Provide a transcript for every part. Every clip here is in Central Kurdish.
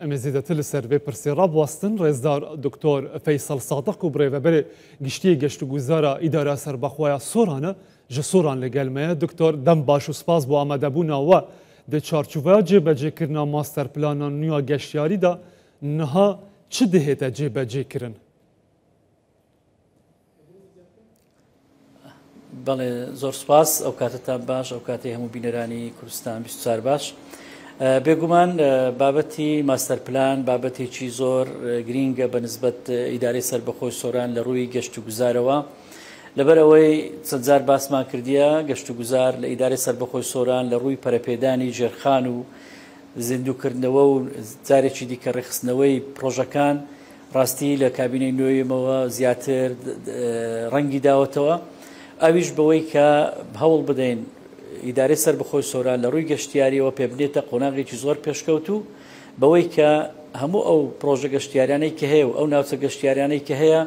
ئەمێ زێدەتر لە سەر ڤێ پرسێ ڕا بوەستن، ڕێزدار دکتۆر فەیسەڵ سادق و بڕێڤەبەرێ گشتیێ گەشتوگوزارا ئیدارا سەربەخوەیا سۆرانە ژە سۆران لە گەل مەیە. دکتۆر دەم باش و سپاس بۆ ئامادەبوونا وە دە چارچوڤەیا جێ بەجێ کرنا ماستەر پلانا نویا گەشتیاری دا نها چ دهێتە جێ بەجێ کرن؟ بەڵێ زۆر سپاس ئەو کاتتان باش ئەو کاتی هەموو بینەرانی کوردستان 24 باش بێگومان بابەتی ماستەر پلان بابەتێکی زۆر گرینگە بە نسبەت ئیدارەی سربەخۆی سۆران لە ڕووی گەشت و گوزارەوە لەبەر ئەوەی چەندجار باسمان کردیە گەشت و گوزار لە ئیدارەی سربەخۆی سۆران لە ڕووی پەرەپێدانی ژێرخان و زیندوکردنەوە و جارێکی دیکە ڕێخستنەوەی پرۆژەکان ڕاستی لە کابینەی نۆیەمەوە زیاتر ڕەنگی داوەتەوە ئەویش بەوەی کە هەوڵ بدەین ئیدارەی سەربەخۆی سۆران لە ڕووی گەشتیاریەوە پێبنێتە قۆناغێکی زۆر پێشکەوت و بەوەی کە هەموو ئەو پرۆژە گەشتیارانەی کە هەیە و ئەو ناوچە گەشتیارانەی کە هەیە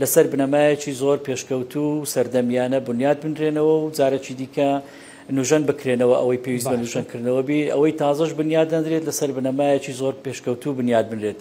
لەسەر بنەمایەکی زۆر پێشکەوت و سەردەمیانە بنیات بنرێنەوە و جارەکی دیکە نوژەن بکرێنەوە ئەوەی پێویست بە نوژەنکردنەوە بی ئەوەی تازەش بنیاد دەنرێت لەسەر بنەمایەکی زۆر پێشکەوتوو بنیاد بنرێت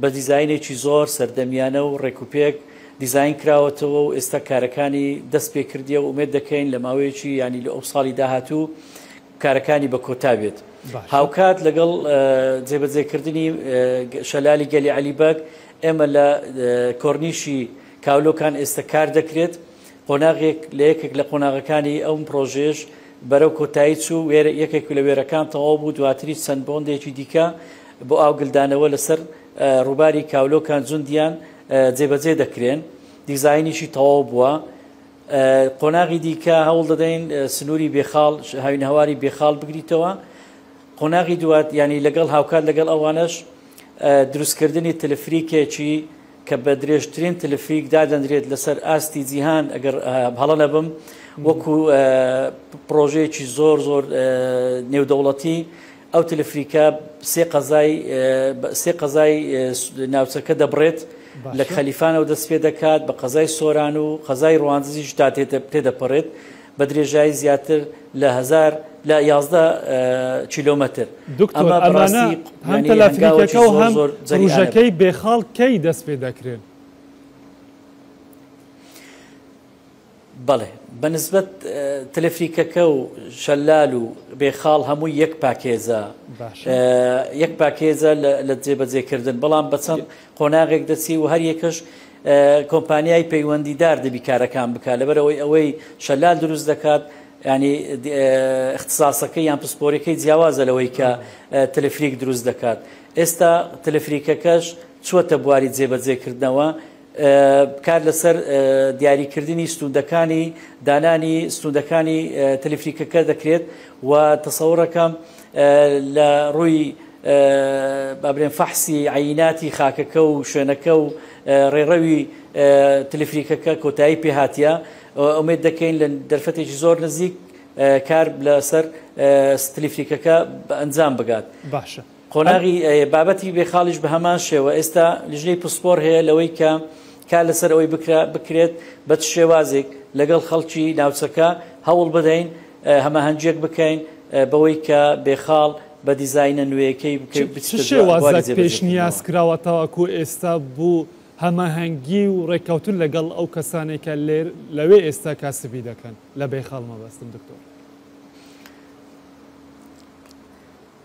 بە دیزاینێکی زۆر سەردەمیانە و ڕێکوپێک دیزاین کراوەتەوە و ئێستا کارەکانی دەست پێ کردیە و ئومێد دەکەین لە ماوەیەکی یانی لە ئەو ساڵی داهاتوو کارەکانی بە کۆتا بێت هاوکات لەگەڵ جێبەجێکردنی شەلالی گەلی عەلی بەگ ئێمە لە کۆرنیشی کاولۆکان ئێستا کار دەکرێت قۆناغێک لە یەکێک لە قۆناغەکانی ئەم پرۆژەیەش بەرەو کۆتایی چوو، وێرە یەکێک لە وێرەکان تەواو بوو، دواتریش چەند بۆندێکی دیکە بۆ ئاوگلدانەوە لەسەر ڕووباری کاولۆکان جوندیان جێبەجێ دەکرێن، دیزاینیشی تەواو بووە. قۆناغی دیکە هەوڵ دەدەین سنووری بێخاڵ، هاوینەهەواری بێخاڵ بگریتەوە. قۆناغی دوات یانی لەگەڵ هاوکات لەگەڵ ئەوانەش دروستکردنی تلفریکێکی کە بە درێژترین تلفریک دادەنرێت لەسەر ئاستی جیهان ئەگەر هەڵە نەبم وەکو پرۆژەیەکی زۆر زۆر نێودەوڵەتی ئەو تلفریکە سێ قەزای سێ قەزای ناوچەکە دەبڕێت لە خەلیفانەوە دەست پێ دەکات بە قەزای سۆران و قەزای ڕواندزیش تا تێدەپەڕێت بە درێژایی زیاتر لە هەزار لە یازدە کیلۆمەتر. دکتۆر ئەمانە هەم تەلاتنیکەکە و هەم پروژەکەی بێخاڵ کەی دەست پێ دەکرێن؟ بەڵێ بە نسبەت تەلەفریکەکە و شەلال و بێخاڵ هەمووی یەک پاکێزە یەک پاکێزە لە جێبەجێکردن بەڵام بەچەند قۆناغێک دەچی و هەریەکەش کۆمپانیای پەیوەندیدار دەبی کارەکان بکات لەبەرەوەی ئەوەی شەلال دروست دەکات ینی اختصاسەکە یان پسپۆرەکەی جیاوازە لەوەی کە تەلفریک دروست دەکات ئێستا تەلفریکەکەش چوەتە بواری جێبەجێکردنەوە کار لەسەر دیاریکردنی ستوندەکانی دانانی ستوندەکانی تەلفریکەکە دەکرێت و تەسەوڕەکەم لە ڕووی با بڵێین فەحسی عەیناتی خاکەکە و شوێنەکە و ڕێڕەوی تلیفریکەکە کۆتایی پێ هاتیە ئومێد دەکەین لە دەرفەتێکی زۆر نزیک کار لەسەر ستلیفریکەکە بە ئەنجام بگات باشە قۆناغی بابەتی بێخاڵیش بە هەمان شێوە ئێستا لیژنەی پسپۆر هەیە لەوەی کە کار لەسەر ئەوەی بکرا بکرێت بە شێوازێک لەگەڵ خەڵکی ناوچەکە هەوڵ بدەین هەماهەنگیەک بکەین بەوەی کە بێخاڵ بە دیزاینە نوێیەکەی بکەین و بچیتە بواری جێبەجێکردنەوە. چ شێوازێک پێشنیاز کراوە تاوەکو ئێستا بۆ هەماهەنگی و ڕێککەوتن لەگەڵ ئەو کەسانەی کە لەوێ ئێستا کاسبی دەکەن؟ لە بێخاڵ مەبەستم دکتۆر.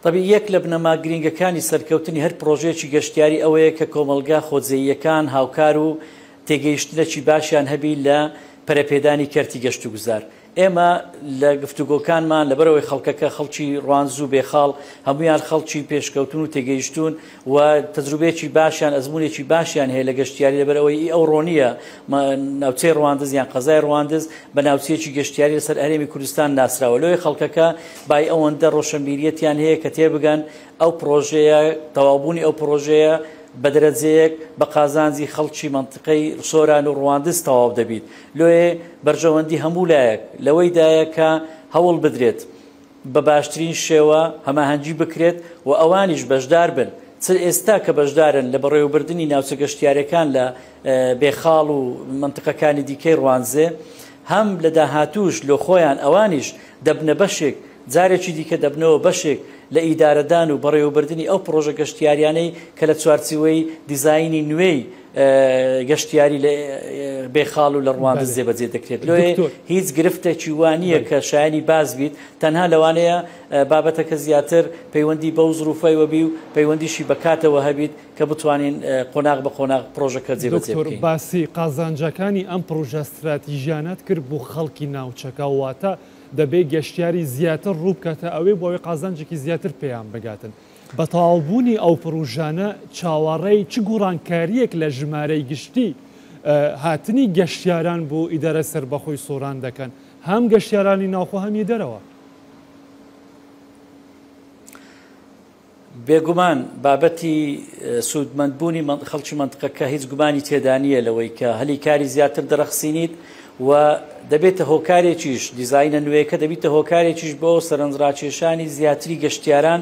تەبیعی یەک لە بنەما گرینگەکانی سەرکەوتنی هەر پڕۆژەیەکی گەشتیاری ئەوەیە کە کۆمەڵگا خۆجێییەکان هاوکار و تێگەیشتنەکی باشیان هەبی لە پەرەپێدانی کەرتی گەشتوگوزار. ئێمە لە گفتوگۆکانمان لەبەرئەوەی خەڵکەکە خەڵکی ڕوانز و بێخاڵ هەموویان خەڵکی پێشکەوتوون و تێگەیشتوون و تەجروبەیەکی باشیان ئەزموونێکی باشیان هەیە لە گەشتیاری لەبەرئەوەی ئەو ڕۆنییە ناوچەی ڕواندز یان قەزای ڕواندز بە ناوچەیەکی گەشتیاری لەسەر هەرێمی کوردستان ناسراوە لۆیە خەڵکەکە بای ئەوەندە ڕۆشەنبیریەتیان هەیە کە تێبگەن ئەو پڕۆژەیە تەواوبوونی ئەو پڕۆژەیە بەدرەجەیەک بە قازانجی خەڵکی مەنتقەی سۆران و ڕواندز تەواو دەبیت. لۆیێ بەرژەوەندی هەموو لایەک لەوەی دایە کە هەوڵ بدرێت بە باشترین شێوە هەماهەنگی بکرێت و ئەوانیش بەشدار بن چ ئێستا کە بەشدارن لە بەڕێوەبردنی ناوچە گەشتیارەکان لە بێخاڵ و مەنتقەکانی دیکەی ڕوانزێ هەم لە داهاتووش لۆ خۆیان ئەوانیش دەبنە بەشێک جارێکی دیکە دەبنەوە بەشێک لە ئیدارەدان و بەڕێوەبردنی ئەو پڕۆژە گەشتیاریانەی کە لە چوارچیوەی دیزاینی نوێی گەشتیاری لە بێ خاڵ و لە ڕوانز جێبەجێ دەکرێت لۆێ هیچ گرفتێکی وانە کە شایانی باز بیت تەنها لەوانەیە بابەتەکە زیاتر پەیوەندی بەو زروفای وەبی و پەیوەندیشی بەکاتەوە هەبیت کە بتوانین قۆناغ بە قۆناغ پرۆژەکە جێبەجێ بکەین باسی قازانجەکانی ئەم پرۆژە ستراتیژیانەت کرد بۆ خەڵکی ناوچەکە واتە دەبێ گەشتیاری زیاتر ڕووبکاتە ئەوێ بۆ ئەوێ قازانجێکی زیاتر پێیان بگاتن بەتەواوبوونی ئەو پڕوژانە چاوەڕێی چ گوڕانکارییەک لە ژمارەی گشتی هاتنی گەشتیاران بۆ ئیدارەی سەربەخۆی سۆران دەکەن، هەم گەشتیارانی ناوخۆ هەم ی دەرەوە؟ بێگومان بابەتی سوودمەندبوونی خەڵکی مەنتقەکە هیچ گومانی تێدانییە لەوەی کە هەلی کاری زیاتر دەرەخسینیت، و دەبێتە هۆکارێکیش، دیزاینە نوێیەکە دەبیتە هۆکارێکیش بۆ سەرنجڕاکێشانی زیاتری گەشتیاران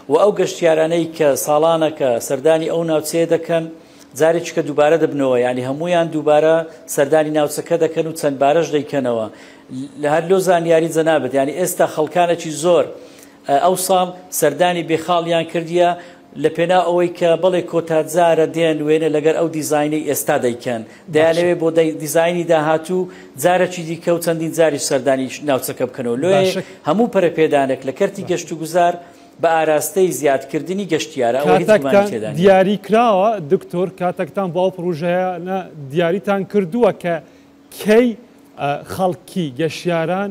و ئەو گەشتیارانەی کە ساڵانەکە سەردانی ئەو ناوچەیە دەکەن جارێکیکە دووبارە دەبنەوە یانی هەموویان دووبارە سەردانی ناوچەکە دەکەن و چەند بارەش دەیکەنەوە هەر لۆ زانیاری جەنابت یانی ئێستا خەڵکانەکی زۆر ئەوساڵ سەردانی بێخاڵیان کردیە لە پێناو ئەوەی کە بەڵێ کۆتا جارە دێن وێنە لەگەر ئەو دیزاینەی ئێستا دەیکەن باشە. دەیانەوێ بۆ دەی دیزاینی داهاتوو جارەکی دیکە و چەندین جاریش سەردانی ناوچەکە بکەنەوە لۆیێ باشە. هەموو پەرەپێدانەک لە کەرتی باشە. گەشت و گوزار بە ئاراستەی زیاد کردنی گەشتیارە ئەوە هیچ گومانی کاتەکتان تێدا نیە. دیاری کراوە دکتۆر کاتەکتان بۆ ئەو پڕوژەیانە دیاریتان کردووە کە کەی خەڵکی گەشیاران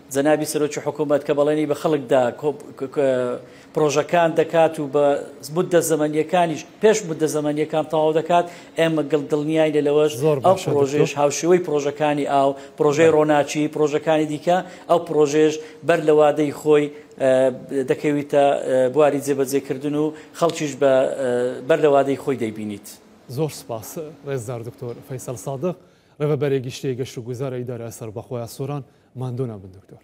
جەنابی سەرۆکی حکوومەت کە بەڵێنی بە خەڵک دا پڕۆژەکان دەکات و بە موددە زەمەنییەکانیش پێش موددە زەمەنییەکان تەواو دەکات، ئێمە دڵنیاین لەوەش، ئەو پڕۆژەیەش هاوشێوەی پڕۆژەکانی ئاو، پڕۆژەی ڕۆناچی، پڕۆژەکانی دیکە، ئەو پڕۆژەیەش بەر لە وادەی خۆی دەکەویتە بواری جێبەجێکردن و خەڵکیش بەر لە وادەی خۆی دەیبینیت. زۆر سوپاس ڕێزدار دکتۆر فەیسەل سادق. ڕێبەرە گشتیە گەشت و گوزارە ئیدارە سەربەخۆە سۆران ماندوو نابن دکتۆر.